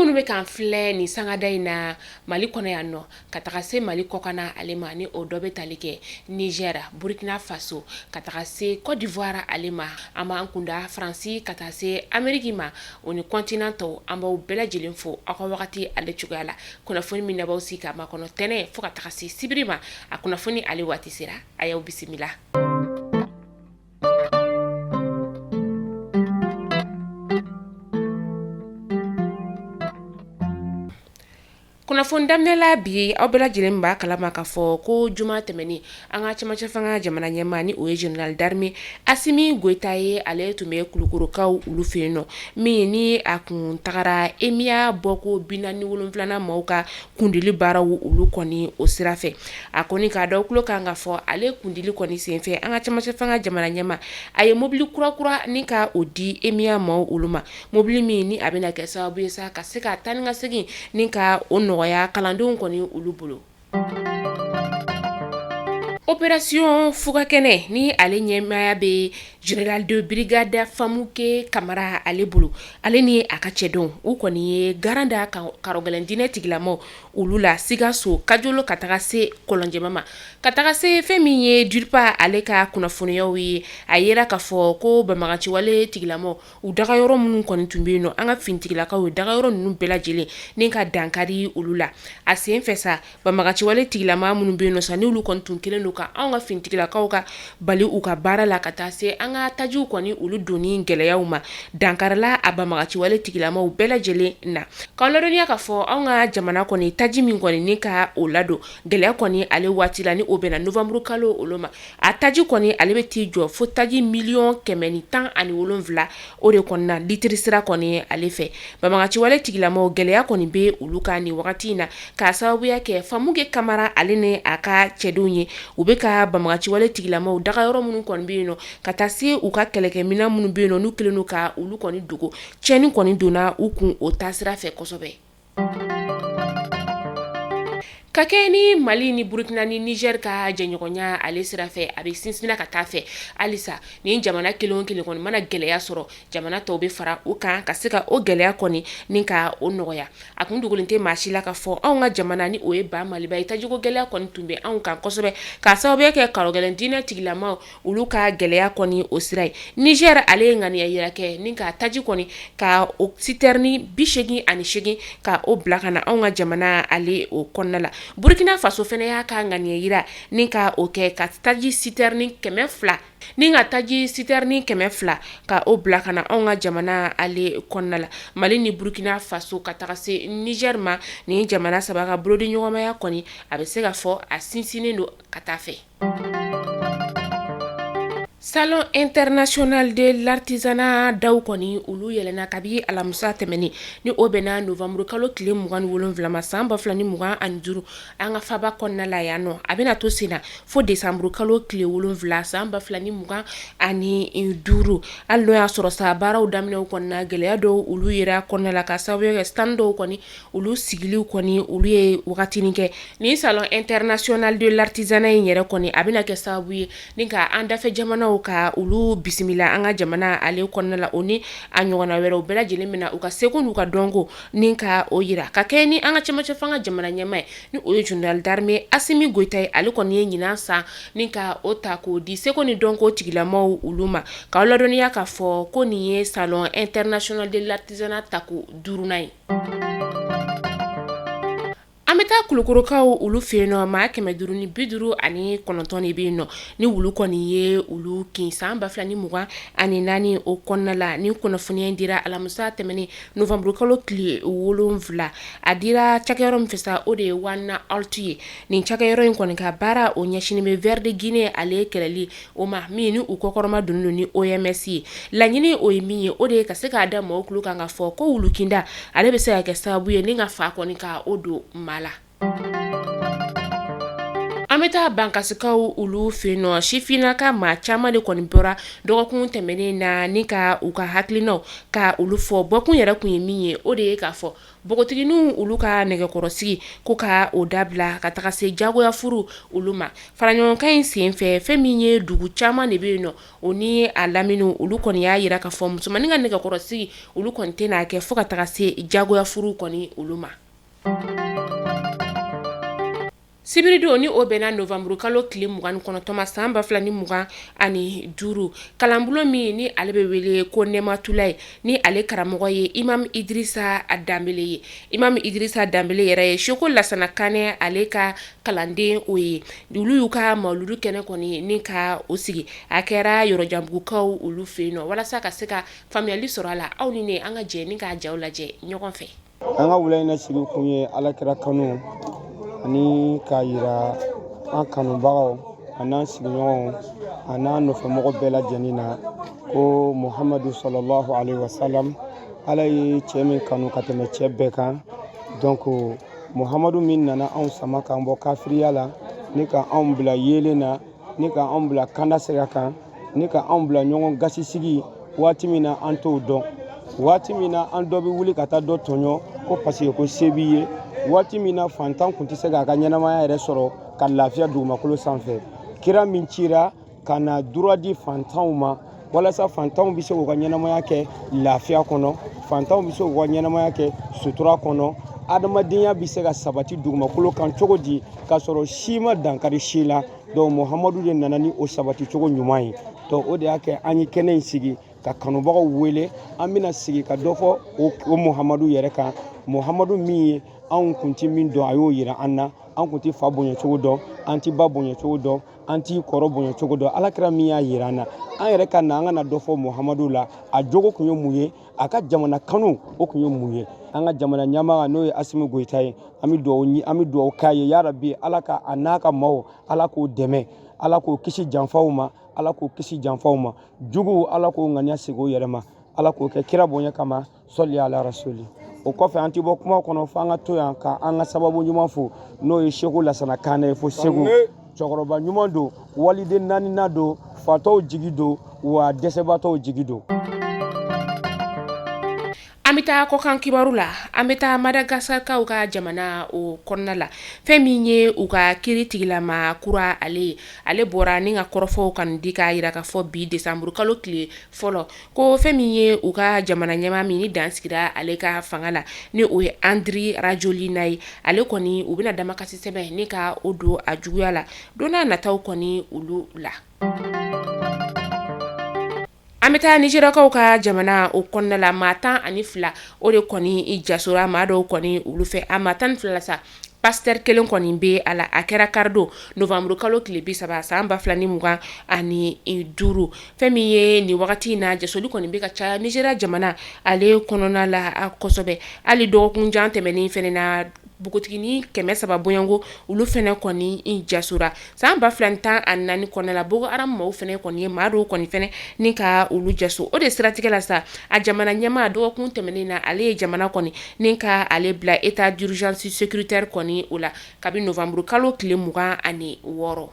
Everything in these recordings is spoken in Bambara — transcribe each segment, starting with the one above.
minnu bɛ k'an filɛ nin sangada in na mali kɔnɔ yan nɔ ka taga se mali kɔkanna ale ma ni o dɔ bɛ tali kɛ niger burkina faso ka taga se cote d'ivoire ale ma an b'an kunda faransi ka taa se ameriki ma o ni kɔntinan tɔw an b'aw bɛɛ lajɛlen fo aw ka wagati ale cogoya la kunnafoni min n'a b'aw sigi k'a makɔnɔ tɛnɛn fo ka taga se sibiri ma a kunnafoni ale waati sera a y'aw bisimila kunnafoni daminɛla bi aw bɛɛ lajɛlen b'a kalama k'a fɔ ko juma tɛmɛnen An ka cɛmancɛ fanga jamana ɲɛmaa ni o ye général d'armée Asimi Goyita ye, ale tun bɛ Kulukɔrɔkaw olu fɛ yen nɔ min ni a kun tagara EMIA bɔko 47nan maaw ka kundili baaraw olu kɔni o sira fɛ, a kɔni k'a da aw tulo kan k'a fɔ ale kundili kɔni senfɛ an ka cɛmancɛ fanga jamana ɲɛmaa a ye mobili kura kura ni ka o di EMIA maaw olu ma, mobili min ni a bɛna kɛ sababu ye sa ka se ka taa ni ka segin ni ka o nɔgɔya kalandenw kɔni olu bolo. Operation fuga kɛnɛ ni ale ɲɛmaaya bɛ General de brigade Famuke Kamara ale bolo, ale ni a ka cɛdenw u kɔni ye garan da karɔgɛlɛn diinɛ tigilamaw olu la Sikaso kajolo ka taga se kɔlɔnjɛba ma, ka taga se fɛn min ye DIRPA ale ka kunnafoniyaw ye, a jira k'a fɔ ko banbaganciwale tigilamaw u dagayɔrɔ minnu kɔni tun bɛ yen nɔ an ka finitigilakaw ye dagayɔrɔ ninnu bɛɛ lajɛlen ni ka dankari olu la a sen fɛ sa banbaganciwale tigilama minnu bɛ yen nɔ sa n'olu kɔni tun kɛlen don ka an ka finitigilakaw ka bali u ka baara la ka taa se an ka tajiw kɔni olu donni gɛlɛyaw ma dankarila a banbaganciwale tigilamaw bɛɛ lajɛlen na k'aw ladɔnniya k'a fɔ an ka jamana kɔni taji min kɔni ka o ladon gɛlɛya kɔni ale waati la ni o bɛnna nowanburu kalo olu ma a taji kɔni ale bɛ t'i jɔ fo taji miliyɔn kɛmɛ ni tan ani wolonwula o de kɔni na litiri sira kɔni ale fɛ banbaganciwale tigilamaw gɛlɛya kɔni bɛ olu kan nin wagati in na k'a sababuya kɛ famuke kamara ale ni a ka cɛdenw ye u bɛ ka banbaganciwale tigilamaw dagayɔrɔ minnu kɔni bɛ yen nɔ ka taa se u ka kɛlɛkɛminɛn minnu bɛ yen nɔ n'u kɛlen don ka olu kɔni dogo cɛnni kɔni donna u kun o taasira fɛ kosɛbɛ ka kɛɲɛ ni mali ni burukina ni nizeri ka jɛɲɔgɔnya ale sira fɛ a bɛ sinsinna ka taa fɛ halisa ni jamana kelen o kelen kɔni mana gɛlɛya sɔrɔ jamana tɔw bɛ fara u kan ka se ka o gɛlɛya kɔni ni ka o nɔgɔya a kun dogolen tɛ maa si la k'a fɔ anw ka jamana ni o ye ba maliba ye tajiko gɛlɛya kɔni tun bɛ anw kan kosɛbɛ k'a sababuya kɛ karɔgɛlɛn diinɛ tigilama olu ka gɛlɛya kɔni o sira ye Nizɛri ale ye ŋaniya jira kɛ ni ka taji kɔni ka o sitɛrini bisegin ani segin ka o bila ka na anw ka jamana ale o kɔnɔna la burukina faso fana y'a ka ŋaniya jira ni ka o kɛ ka taji sitɛrini kɛmɛ fila ni ka taji sitɛrini kɛmɛ fila ka o bila ka na anw ka jamana ale kɔnɔna la mali ni burukina faso ka taga se Nizɛri ma ni jamana saba ka bolodiɲɔgɔnmaya kɔni a bɛ se ka fɔ a sinsinnen don ka taa fɛ Salon international de l'artisanat daw kɔni olu yɛlɛna kabi alamisa tɛmɛnen ni o bɛnna nowanburu kalo tile mugan wolonwulama san ba fila ni mugan ani duuru an ka faba kɔnɔna la yan nɔ a bɛna to senna fo desanburu kalo tile wolonwula san ba fila ni mugan ani duuru hali n'o y'a sɔrɔ sa baaraw daminɛ kɔnɔna gɛlɛya dɔw olu yera kɔnɔna la ka sababu kɛ stand dɔw kɔni olu sigiliw kɔni olu ye wagatinin kɛ nin salon international de l'artisanat in yɛrɛ kɔni a bɛna kɛ sababu ye ni ka an dafɛ jamanaw ka olu bisimila an ka jamana ale kɔnɔna la o ni a ɲɔgɔnna wɛrɛw bɛɛ lajɛlen min na u ka seko n'u ka dɔnko ni ka o jira ka kɛ ni an ka cɛmancɛ fanga jamana ɲɛmaa ye ni o ye général d'armée Assimi Goïta ye ale kɔni ye ɲinan san ni ka o ta k'o di seko ni dɔnko tigilamaw olu ma k'aw ladɔnniya k'a fɔ ko nin ye salon international de l'artisanat tako duurunan ye An bɛ taa kulukorokaw olu fɛ yen nɔ maa kɛmɛ duuru ni bi duuru ani kɔnɔntɔn de bɛ yen nɔ ni wulu kɔni ye olu kin san ba fila ni mugan ani naani o kɔnɔna la ni kunnafoniya in dira alamisa tɛmɛnen nowanburukalo tile wolonwula a dira cakɛyɔrɔ min fɛ sa o de ye One Health ye nin cakɛyɔrɔ in kɔni ka baara o ɲɛsinnen bɛ ver de Guinée ale kɛlɛli o ma min ni u kɔkɔrɔma donnen don ni OMS ye laɲini o ye min ye o de ye ka se k'a da mɔgɔw tulo kan ka fɔ ko wulukinda ale bɛ se ka kɛ sababu ye ni ka fa kɔni ka o don ma la an bɛ taa bankasikaw olu fɛ yen nɔ sifinnaka maa caman de kɔni bɔra dɔgɔkun tɛmɛnen na ni ka u ka hakilinaw ka olu fɔ bɔkun yɛrɛ kun ye min ye o de ye k'a fɔ npogotigininw olu ka nɛgɛkɔrɔsigi ko ka o dabila ka taga se jagoya furu olu ma faraɲɔgɔnkan in senfɛ fɛn min ye dugu caman de bɛ yen nɔ o ni a lamini olu kɔni y'a jira ka fɔ musomannin ka nɛgɛkɔrɔsigi olu kɔni tɛna kɛ fo ka taga se jagoya furu kɔni olu ma Sibiridon ni o bɛnna nowanburu kalo tile mugan kɔnɔntɔnma san ba fila ni mugan ani duuru kalanbulon min ni ale bɛ wele ko Nɛmatulayi ni ale karamɔgɔ ye imamu Idrisa Danbele ye imamu Idrisa Danbele yɛrɛ ye seko lasana Kanɛ ale ka kalanden o ye olu y'u ka mawuludu kɛnɛ kɔni ni ka o sigi a kɛra yɔrɔjanbugukaw olu fɛ yen nɔ walasa ka se ka faamuyali sɔrɔ a la aw ni ne an ka jɛ ni k'a jaw lajɛ ɲɔgɔn fɛ an ka wula in na sigi kun ye alakira kanu ani k'a yira an kanubagaw an'an sigiɲɔgɔnw an'an nɔfɛmɔgɔ bɛɛ lajɛlen na ko muhamadu salalahu alayhi wa salam ala ye cɛ min kanu ka tɛmɛ cɛ bɛɛ kan donc muhamadu min nana anw sama k'an bɔ kafiriya la ni ka anw bila yeelen na ni ka anw bila kanda sira kan ni ka anw bila ɲɔgɔn gasi sigi waati min na an t'o dɔn waati min na an dɔ bɛ wuli ka taa dɔ tɔɲɔ ko parce que ko se b'i ye waati min na fantan kun tɛ se k'a ka ɲɛnamaya yɛrɛ sɔrɔ ka lafiya dugumakolo sanfɛ kira min cira ka na droit di fantanw ma walasa fantanw bɛ se k'u ka ɲɛnamaya kɛ lafiya kɔnɔ fantanw bɛ se k'u ka ɲɛnamaya kɛ sutura kɔnɔ adamadenya bɛ se ka sabati dugumakolo kan cogo di k'a sɔrɔ si ma dankari si la donc muhamadu de nana ni o sabati cogo ɲuman ye donc o de y'a kɛ an ye kɛnɛ in sigi ka kanubagaw wele an bɛna sigi ka dɔ fɔ o muhamadu yɛrɛ kan muhamadu min ye anw kun tɛ min dɔn a y'o yira an na an kun tɛ fa bonyacogo dɔn an tɛ ba bonyacogo dɔn an t'i kɔrɔ bonya cogo dɔn alakira min y'a yira an na an yɛrɛ ka na an ka na dɔ fɔ muhamadu la a jogo kun ye mun ye a ka jamana kanu o kun ye mun ye an ka jamana ɲɛmaa n'o ye asimi goyita ye an bɛ dugawu k'a ye ya rabi ala ka a n'a ka maaw ala k'o dɛmɛ ala k'o kisi janfaw ma ala k'o kisi janfaw ma juguw ala k'o ŋaniya segin o yɛrɛ ma ala k'o kɛ kira bonya kama sɔli ala rasuli o kɔfɛ an tɛ bɔ kuma kɔnɔ fo an ka to yan ka an ka sababu ɲuman fo n'o ye seko lasana kanɛ ye fo segu cɛkɔrɔba ɲuman don waliden naanina don fatɔw jigi don wa dɛsɛbatɔw jigi don an bɛ taa kɔkan kibaru la an bɛ taa madagasikarikaw ka jamana o kɔnɔna la fɛn min ye u ka kiri tigilamaa kura ale ye ale bɔra ni ka kɔrɔfɔw kan di k'a yira k'a fɔ bi desanburukalo tile fɔlɔ Ko fɛn min ye u ka jamana ɲɛmaa min ni dan sigira ale ka fanga la ni o ye Andry Rajoelina ye ale kɔni u bɛna damakasi sɛbɛn ni ka o don a juguya la don n'a nataw kɔni olu la an bɛ taa Nizeriyakaw ka jamana o kɔnɔna la maa 12 o de kɔni jasora maa dɔw kɔni olu fɛ a maa 12 la sa Pasteur 1 kɔni bɛ a la, a kɛra kari don novembre kalo tile 30 san 2025 fɛn min ye nin wagati in na jasoli kɔni bɛ ka caya Nigeria jamana ale kɔnɔna la kosɛbɛ, hali dɔgɔkun jan tɛmɛnen fana na npogotiginin 300 bɔɲɔgɔnko olu fana kɔni jasora San ba fila tan ani naani kɔnɔna la Boko Haram maaw fɛnɛ kɔni ye maa dɔw kɔni fɛnɛ ni ka olu jaso o de siratigɛ la sa a jamana ɲɛmaa dɔgɔkun tɛmɛnen na ale ye jamana kɔni ni ka ale bila état d'urgence sécuritaire kɔni o la kabi novanburu kalo tile mugan ani wɔɔrɔ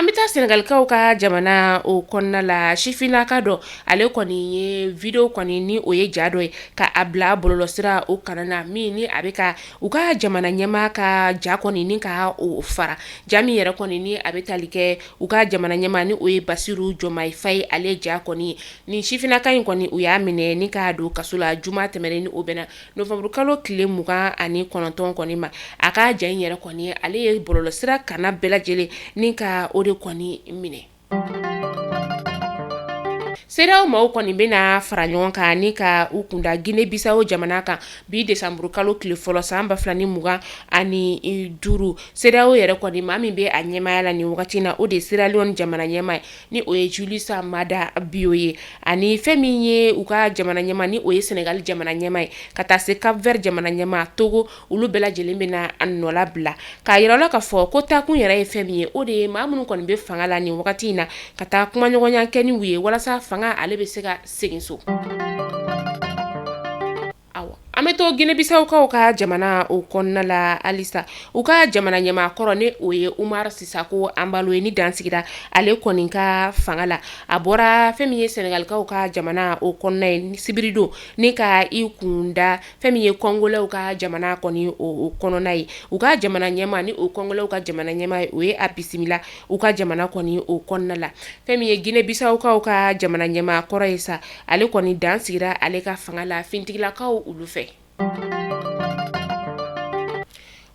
an bɛ taa senegalikaw ka jamana o kɔnɔna la sifinnaka dɔ ale kɔni ye video kɔni ni o ye ja dɔ ye k'a bila bɔlɔlɔsira o kana na min ni a bɛ ka U ka jamana ɲɛma ka ja kɔni ni ka o fara ja min yɛrɛ kɔni ni a bɛ tali kɛ u ka jamana ɲɛma ni o ye Basiru Jɔmayi Fayi ale ja kɔni ni sifinnaka in kɔni u y'a minɛ ni k'a don kaso la juma tɛmɛnen ni o bɛnna novanburukalo tile mugan ani kɔnɔntɔn kɔni ma a ka ja in yɛrɛ kɔni ale ye bɔlɔlɔsira kana bɛɛ lajɛlen ni ka o de kɔni minɛ CEDEAO maaw kɔni bɛna fara ɲɔgɔn kan ni ka u kunda gine bisawo jamana kan bi desanburukalo tile fɔlɔ san ba fila ni mugan ani duuru CEDEAO yɛrɛ kɔni maa min bɛ a ɲɛmaya la ni wagati in na o de ye Sierra Leone jamana ɲɛma ye ni o ye Julius Maada Bio ye ani fɛn min ye u ka jamana ɲɛma ni o ye senegali jamana ɲɛma ye ka taa se Cap Vert jamana ɲɛma togo olu bɛɛ lajɛlen bɛna a nɔ labila k'a yira la k'a fɔ ko taakun yɛrɛ ye fɛn min ye o de ye maa minnu kɔni bɛ fanga la nin wagati in na ka taa kumaɲɔgɔnya kɛ ni u ye walasa fanga ale bɛ se ka segin so an bɛ to gine bisawokaw ka jamana o kɔnɔna la halisa u ka jamana ɲɛmakɔrɔ ni o ye Umaru Sisoko Anbalo ye ni dan sigira ale kɔni ka fanga la a bɔra fɛn min ye senegalikaw ka jamana o kɔnɔna ye sibiridon ni ka i kunda fɛn min ye kɔngolɛw ka jamana kɔni o kɔnɔna ye u ka jamana ɲɛma ni o kɔngolɛw ka jamana ɲɛma ye o ye a bisimila u ka jamana kɔni o kɔnɔna la fɛn min ye gine bisawokaw ka jamana ɲɛmaa kɔrɔ ye sa ale kɔni dan sigira ale ka fanga la finitigilakaw olu fɛ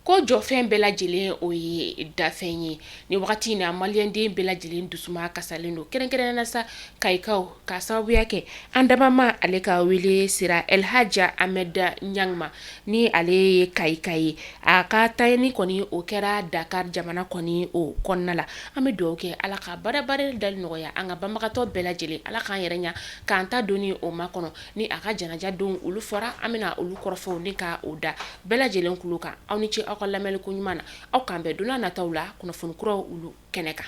ko jɔfɛn bɛɛ lajɛlen o ye dafɛn ye ni wagati in na maliyɛnden bɛɛ lajɛlen dusuma kasalen don kɛrɛnkɛrɛn na sa kayikaw ka sababuya kɛ an damama ale ka wele sera Elhaji Ahmed Niang ma ni ale ye kayika ye a ka tayɛni kɔni o kɛra Dakar jamana kɔni o kɔnɔna la an bɛ dugawu kɛ ala ka barika dali nɔgɔya an ka banbagatɔ bɛɛ lajɛlen ala k'an yɛrɛ ɲa k'an ta don o makɔnɔ ni a ka janaja don olu fɔra an bɛna olu kɔrɔfɔw ni ka o da bɛɛ lajɛlen kulo kan aw ni ce aw ka lamɛnli koɲuman na aw k'an bɛn don nataw la kunnafoni kuraw olu kɛnɛ kan